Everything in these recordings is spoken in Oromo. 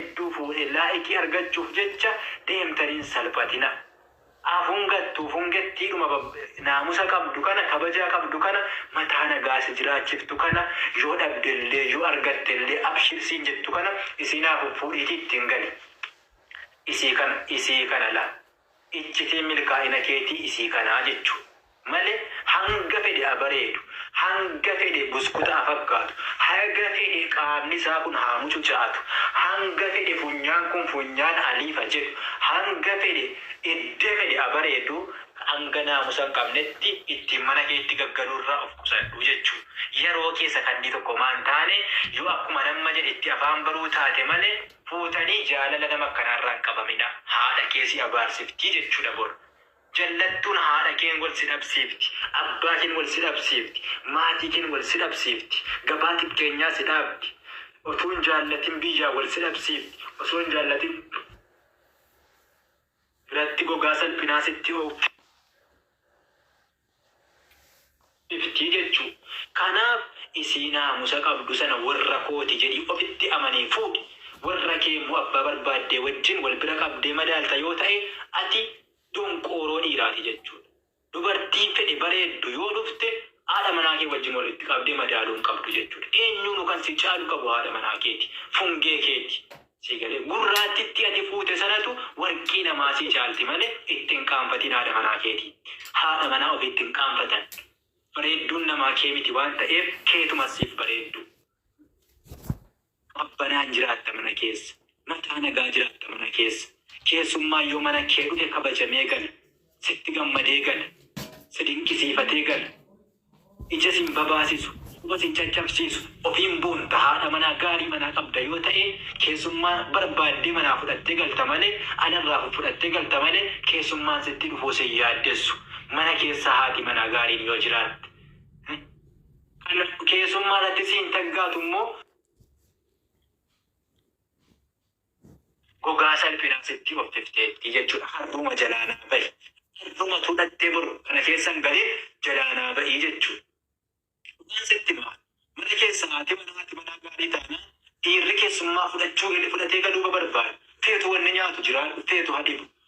hedduu fuudhe laa'ikii argachuuf jecha deemtan hin salphatina a fungattuu fungettiidhuma bab naamusa qabdu kana kabajaa qabdu kana mataa nagaa si jiraachiftu kana yoo dhabdellee yoo argattellee abshir siin jettu kana isiin haa fuffuudhiitii ittiin gali isii kana isii kana la iccitiin milkaa'ina keetii isii kanaa jechu male hanga fedhe ha bareedu hanga fedhe buskuta ha fakkaatu haga fedhe qaamni isaa kun haa mucucaatu hanga fedhe funyaan kun funyaan Aliif ha jedhu hanga fedhe edda fedhe ha bareedu hanga naamusa hin qabnetti ittiin mana keetti gaggaluu irraa of qusadhu jechu yaroo kee sakandii tokkomaa hin taane yoo akkuman amma jedhe itti afaan baruu taate male fuutanii jaalala nama akkanaarraa hin qabamina haadha kee si abaarsiftii jechudha bor jallattuun haadha keen wal si dhabsiifti abbaa keen wal si dhabsiifti maatii keen wal si dhabsiifti gabaa xiqqeenyaa si dhaabdi otuu hin jaallatin biyyaa wal si dhabsiifti osoo hin jaallatin biratti gogaa salphinaa sitti oofti. dhiftii jechuu kanaaf isii naamusa qabdu sana warra kooti jedhii ofitti amanee fuudhi warra kee immoo abbaa barbaaddee wajjin wal bira qabdee madaalta yoo ta'ee ati donqooroo dhiiraati jechuudha dubartiin fedhe bareeddu yoo dhufte haadha manaa kee wajjin walitti qabdee madaaluu hin qabdu jechuudha eenyuunu kan si caalu qabu haadha manaa keeti fungee keeti sii galee gurraattitti ati fuute sanatu warqii namaa sii caalti malee itti hin qaanfatiin haadha manaa keetii haadha manaa ofii itti hin qaanfatan bareedduun namaa kee miti waan ta'eef keetumas siif bareedduu qabbanaan jiraatta mana keessa mataa nagaa jiraatta mana keessa keessummaan yoo mana kee dhufe kabajamee gala sitti gammadee gala si dinqisiifatee gala Ija sin babaasisu, quba sin caccabsiisu, ofiin boonta, haadha manaa gaarii manaa qabda yoo ta'e keessummaa barbaaddee manaa fudhattee galta malee alarraa fuffudhattee galta malee keessummaan sitti dhufuu sin yaaddessu mana keessa haati manaa gaariin yoo jiraatte kan keessummaa irratti siin taggaatu immoo Gogaa salphinaa sittii offifteettii jechuudha harruma jalaa naa bahi harrumatu dhattee bor kana keessa hin galee jalaa naa bahii jechuudha dhugaan sitti himaa mana keessa haati manaa haati manaa gaarii taanaan dhiirri keessummaa fudhachuu galee fudhatee galuuba barbaada feetu wanni nyaatu jiraadhu feetu ha dhibu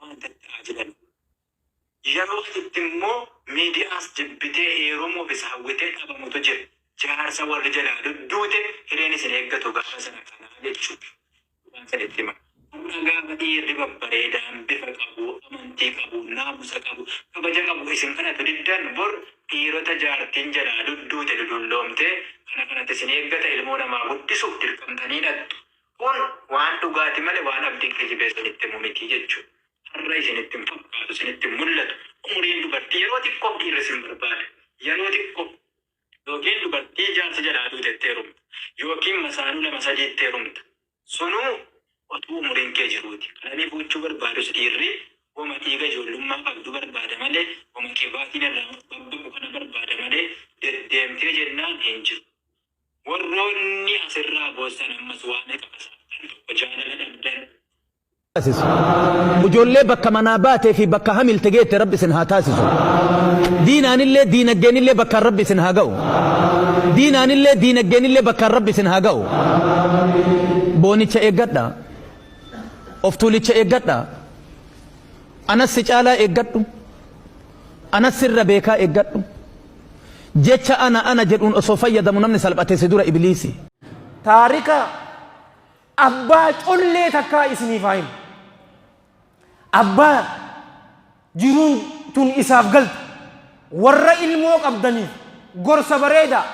waan tatta'a jedhani. Yeroo asitti immoo miidiyaas jibbitee heerumuuf isa hawwitee dhabamutu jira. Jaarsa warri jalaa dudduute hireen isin eeggatu gaafa sana kanaa jechuun waan san itti himan. Har'a gaafa dhiirri babbareedaan bifa qabu, amantii qabu, naamusa qabu, kabaja qabu isin kadhatu diddan bor dhiirota jaartiin jalaa dudduute dudulloomtee kana kanatu isin eeggata ilmoo namaa guddisuuf dirqamtanii dhaqxu. Kun waan dhugaati male waan abdii kijibee isinitti himu miti jechu. Har'a isinitti hin fakkaatu, isinitti hin mul'atu. Umuriin dubartii yeroo xiqqoof dhiirri isin barbaada. Yeroo xiqqoof. Yookiin dubartii jaarsi jalaa duute itti heerumta. Yookiin masaanuu lama sadii itti heerumta. Sunuu otuu umuriin kee jiruuti. Qalanii fuuchuu barbaadus dhiirri woma dhiiga ijoollummaa qabdu barbaada malee woma qibaatiin irraa babbaqu kana barbaada malee deddeemtee jennaan hin jiru. Warroonni as irraa boossan ammas waa meqa fasaaftan tokko jaalala dhabdan. taasisu. Ijoollee bakka manaa baatee fi bakka hamilte geette Rabbi isin haa taasisu. Diinaanillee diinaggeenillee bakkaan Rabbi isin haa ga'u. Diinaanillee diinaggeenillee bakkaan Rabbi isin haa ga'u. Boonicha eeggadha. Of tuulicha eeggadha. Anas si caalaa eeggadhu. Anas sirra beekaa eeggadhu. Jecha ana ana jedhuun osoo fayyadamu namni salphate si dura ibliisi. Taarika abbaa collee takkaa isiniif haa himu. Abbaa jiruun tun isaaf galte warra ilmoo qabdaniif gorsa bareedaa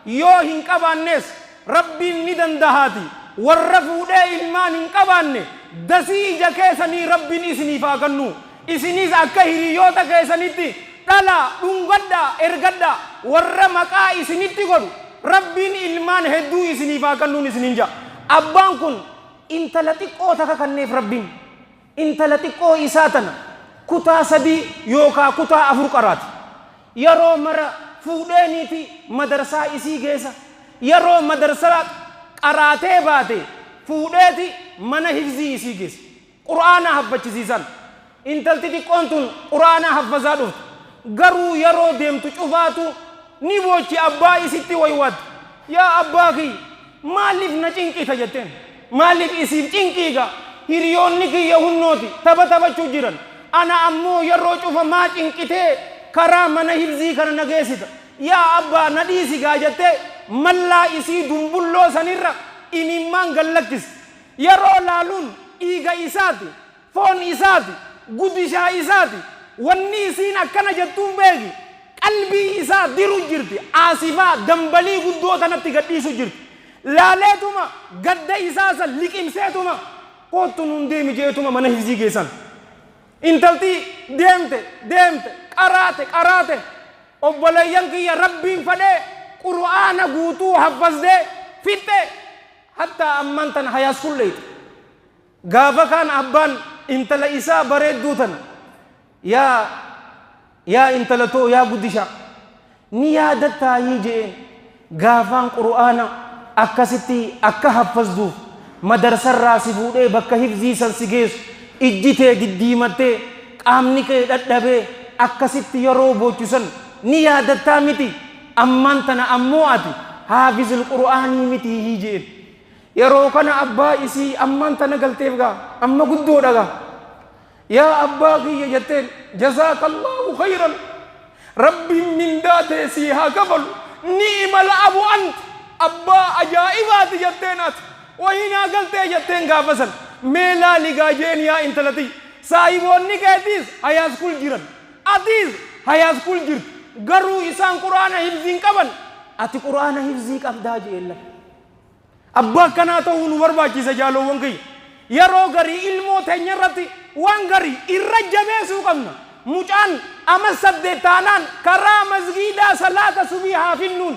yoo hin qabaannees Rabbiin ni dandahaatii warra fuudhee ilmaan hin qabaanne dasii ija keesanii Rabbiin isiniif haa kannuu Isinis akka hiriyoota keessanitti dhalaa, dhungadhaa, ergadhaa. Warra maqaa isinitti godhu, Rabbiin ilmaan hedduu isiniif haa kannuun isiniin ja'a. Abbaan kun intala xiqqoo taka kanneef Rabbiin. Intala xiqqoo isaa tana kutaa sadii yookaa kutaa afur qaraati. Yaroo mara fuudhee niiti madarsaa isii geessa. Yaroo madarsaa qaraatee baate fuudheeti mana hifzii isii geessa. Qur'aana haffachisiisan. Intalti xiqqoon tun Qur'aana haffazaa dhufte. Garuu yeroo deemtu cufaatu ni boochi abbaa isitti waywaatte. Yaa abbaa kiyya! Maaliif na cinqita jetteen. Maaliif isiif cinqii gaa? Hiriyoonni kiyya hunnooti tapha taphachuu jiran. Ana ammoo yeroo cufa maa cinqitee karaa mana hifzii kana na geessita. Yaa abbaa na dhiisi gaa jettee mallaa isii dumbulloo sanirra imimmaan gad lakkiste. Yeroo laaluun dhiiga isaati, foon isaati, gudishaa isaati, wanni isiin akkana jettuun beeki, qalbii isaa diru jirti, aasifaa, dambalii guddoo tanatti gad dhiisu jirti. Laaleetuma gadda isaa san liqimseetuma koottu nuun deemi je'eetuma mana hifzii geessan. Intalti deemte, deemte, qaraate, qaraate, obboleeyyan kiyya Rabbiin fadhee qur'aana guutuu haffazde, fixxe, Hattaa ammaan tana high school dheyxe. Gaafa kaan abbaan intala isaa bareedduu tana yaa yaa intala too yaa guddishaa ni yaadattaayii je'een. Gaafaan qur'aana akkasitti akka haffazduuf madarsarraa si fuudhee bakka hifzii san si geessu ijji tee diddiimattee qaamni kee dhadhabee akkasitti yeroo boochu san ni yaadattaa miti? Ammaan tana ammoo ati haafizul qur'aanii mitii hii je'een. Yeroo kana abbaa isii ammaan tana galteef gaa amma guddoodha gaa. Yaa abbaa kiyya jetteen jazaakallaahu khayran Rabbiin mindaa tee sii haa kafalu ni'imal abu ant abbaa ajaa'ibaati jetteen ati wahii naa galtee jetteen gaafa san mee laali gaa je'een yaa intala tiyya saahiboonni keetiis high school jiran Atis hayaschool jirta garuu isaan qur'aana hifzii hin qaban ati qur'aana hifzii qabdaa je'een lafa. Abbaa akkanaa ta'uu nu barbaachisa jaaloowwan kiyya. Yeroo garii ilmoo teenya irratti waan garii irra jabeessuu qabna. Mucaan amas saddeet taanaan karaa masgiidaa salaata subii haa finnuun.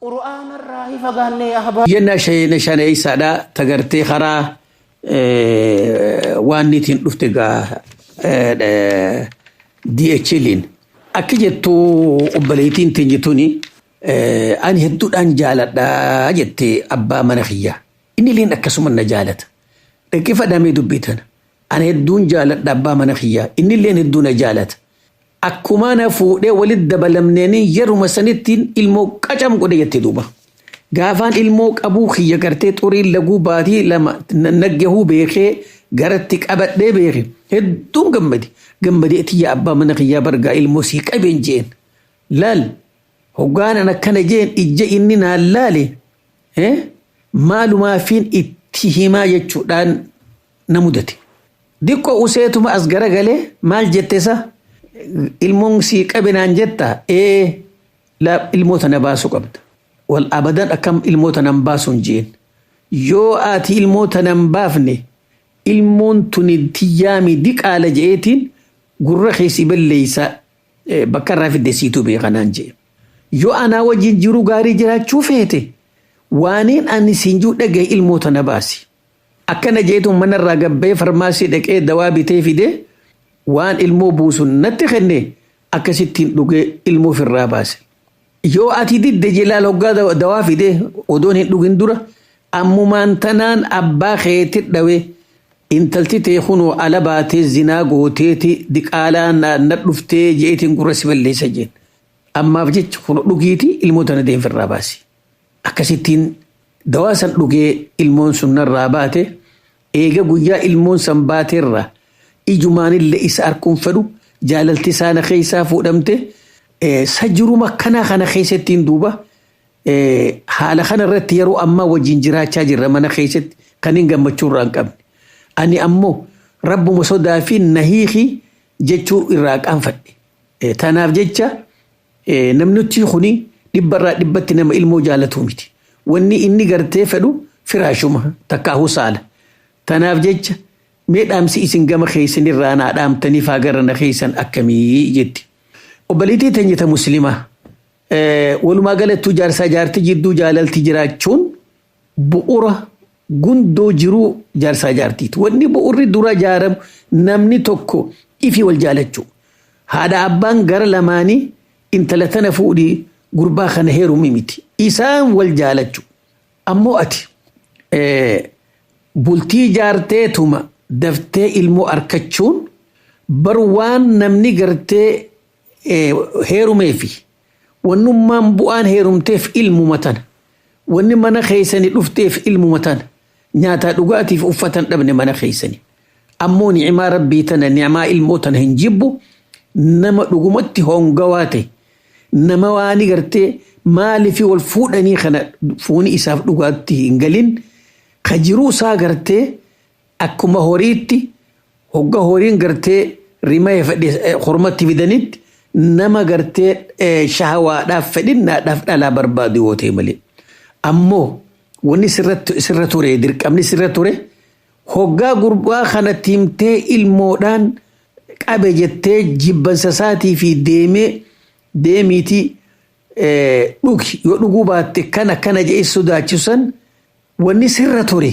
Qur'aana irraa hi fagaanne yaa ahbaab. Yenna shayina shaneeysaadha tagartee karaa waan niitiin dhufte gaa DHLiin akki jettu obboleeytiin teenye tuni ani hedduudhaan jaaladha jette abbaa mana kiyyaa. Inni illeen akkasuma na jaalata. Dhaggeeffadhaa mee dubbii tana. Ani hedduun jaaladha abbaa mana kiyyaa. Innilleen hedduu na jaalata. Akkumaa na fuudhee walitti dabalamneenii yeruma sanittiin ilmoo qacam godhe jette duuba. Gaafaan ilmoo qabuu kiyya gartee xuriin laguu baatii lama na- naggahuu beekee garatti qabadhee beeke hedduun gammade. Gammadee tiyya abbaa mana kiyyaa bargaa ilmoo sii qabeen jeen. Laal hoggaanan akkana jeen ijja inni naan laale eh, maalumaafiin itti himaa jechuudhaan na mudate. Diqqo useetuma as garagalee maal jette sa? Ilmoon sii qabe naan jetta? Ee la ilmoo tana baasu qabda. Wal abadan akkam ilmoo tana hin baasu hin jeen. Yoo ati ilmoo tana hin baafne ilmoon tuni tiyyaami diqaala je'eetiin gurra kee si balleeysa eh, bakka irraa fidde siitu beeka naan je'e. Yoo anaa wajjin jiru gaarii jiraachuu feete waaniin ani siin jiru dhagahi ilmoo tana baasi. Akkana jeetuun manarraa gad ba'ee farmaasii dhaqee dawaa bitee fidee waan ilmoo buusu natti kenne akkasittiin dhugee ilmoo ofirraa baase. Yoo ati didde jelaal hoggaa dawa- dawaa fidee odoon hin dhugin dura ammumaan tanaan abbaa keetti dhawee intalti tee kunoo ala baatee zinaa gooteeti diqaalaa na na dhuftee jeetiin gurra si balleessa jeen. Ammaaf jecha kun dhugiiti ilmoo tana deemfirraa baasi. Akkasittiin dawaa san dhugee ilmoon sun narraa baate, eega guyyaa ilmoon san baaterra ijumaanille isa arkuun fedhu, jaalalti isaa na keessaa fuudhamte, eh, sa jiruma akkanaa kana keessattiin duuba eh, haala kana irratti yeroo ammaa wajjin jiraachaa jirra mana keessatti kan hin gammachuu irraa hin qabne. Ani ammoo rabbuma sodaa fi na hiiki jechuu irraa qaanfadhe. Eh, Tanaaf jecha Namnittii kuni dhibba irraa dhibbatti nama ilmoo jaalatuu miti. Wanni inni gartee fedhu firaashuma takkaahuu saala. Tanaaf jecha mee dhaamsi isin gama keessan irraa naa dhaamtanii faa gara na keessan akkamii jetti. Obboleettii teenya ta muslimaa walumaa galattuu jaarsaa jaartii jidduu jaalalti jiraachuun bu'ura gundoo jiruu jaarsaa jaartiiti. Wanni bu'urri dura jaaramu namni tokko ifi wal jaalachuu. Haadha abbaan gara lamaanii intala tana fuudhi gurbaa kana heerumi miti. Isaan wal jaalachu. Ammoo ati bultii jaarteetuma daftee ilmoo arkachuun bar waan namni gartee heerumeefi. Wannummaan bu'aan heerumteef ilmuma tana. Wanni mana keessani dhufteef ilmuma tana. Nyaataa dhugaatiif uffatan dhabne mana keessani. Ammoo ni'imaa Rabbii tana ni'imaa ilmoo tana hin jibbu nama dhugumatti hongawaa ta'e. Nama waani gartee maalifi wal fuudhanii kana fuuni isaaf dhugaatti hin galin ka jiruu isaa gartee Akkuma horiitti hogga horiin gartee rimaye fedhe kormatti fidanitti nama gartee eh, shahawaadhaaf fedhinnaadhaaf dhalaa barbaadu yoo ta'e malee. Ammoo wanni sirra sirra ture dirqamni sirra ture hoggaa gurbaa kanatti himtee ilmoodhaan qabe jettee jibbansa isaatii fi deemee deemiitii eh, dhugi yoo dhuguu baatte kan akkana jedhee sodaachisan wanni sirra ture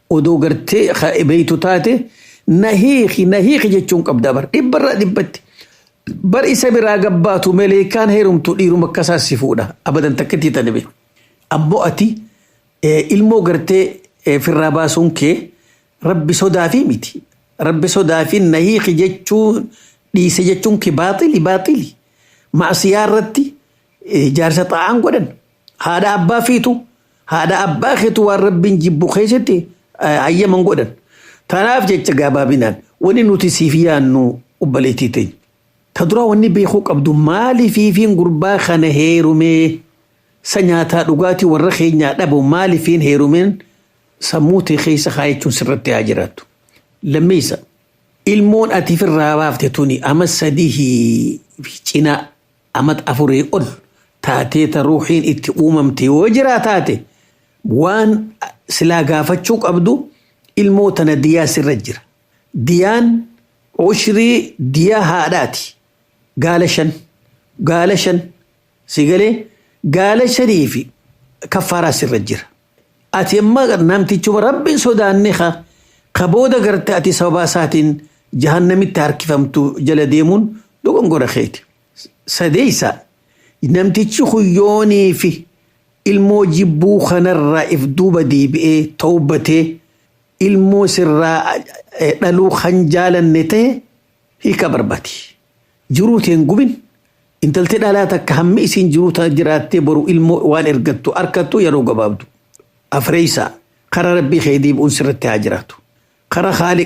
Odoo gartee ka beeytu taate na hiiki na hiiki jechuun qabda bar dhibba irraa dhibbatti. Bar isa biraa gabbaatu meleekaan heerumtu dhiiruma akka isaa si fuudha abadan takkittii tane beeku. Ammoo ati eh, ilmoo gartee eh, firraa baasuun kee rabbi sodaafii miti. Rabbi sodaafii na hiiki jechuun dhiise jechuun kee baaxili baaxili. Maasiyaa irratti eh, jaarsa xaa'aan godhan. Haadha abbaa fiitu haadha abbaa keetu waan rabbiin jibbu keessatti eh, hayyama hin godhan. Tanaaf jecha gabaabinaan wanni nuti siif yaannu obboleettii teenya. Ta duraa wanni beekuu qabdu maaliif fiifiin gurbaa kana heerumee sa nyaataa dhugaatii warra keenyaa dhabu maaliif hin heerumeen sammuu tee keessa kaayachuun sirratti haa jiraattu. Lammeessa ilmoon ati firraa baafte tuni amma sadii fi cinaa amata afurii ol taatee ta ruuhiin itti uumamte yoo jiraa taate waan silaa gaafachuu qabdu ilmoo tana diyaa sirra jira. Diyaan ushrii diyaa haadhaati. Gaala shan. Gaala shan. Si galee gaala shanii fi kaffaaraa sirra jira. Ati amma namtichuma Rabbi hin sodaanne ka ka booda garte ati sababaa isaatiin jahannamitti harkifamtu jala deemuun dogongora keeti. Sadeessa namtichi kun yoonii fi ilmoo jibbuu kanarraa if duuba deebi'ee tawbatee ilmoo sirraa eh, dhaluu kan jaalanne ta'e hiika barbaadi. Jiruu tee hin gubin. Intalti dhalaa takka hammi isiin jiruu tana jiraattee boru ilmoo waan ergattu arkattu yeroo gabaabdu. Afreeysaa, kara Rabbii kee deebi'uun sirratti haa jiraatu. Kara Khaaliq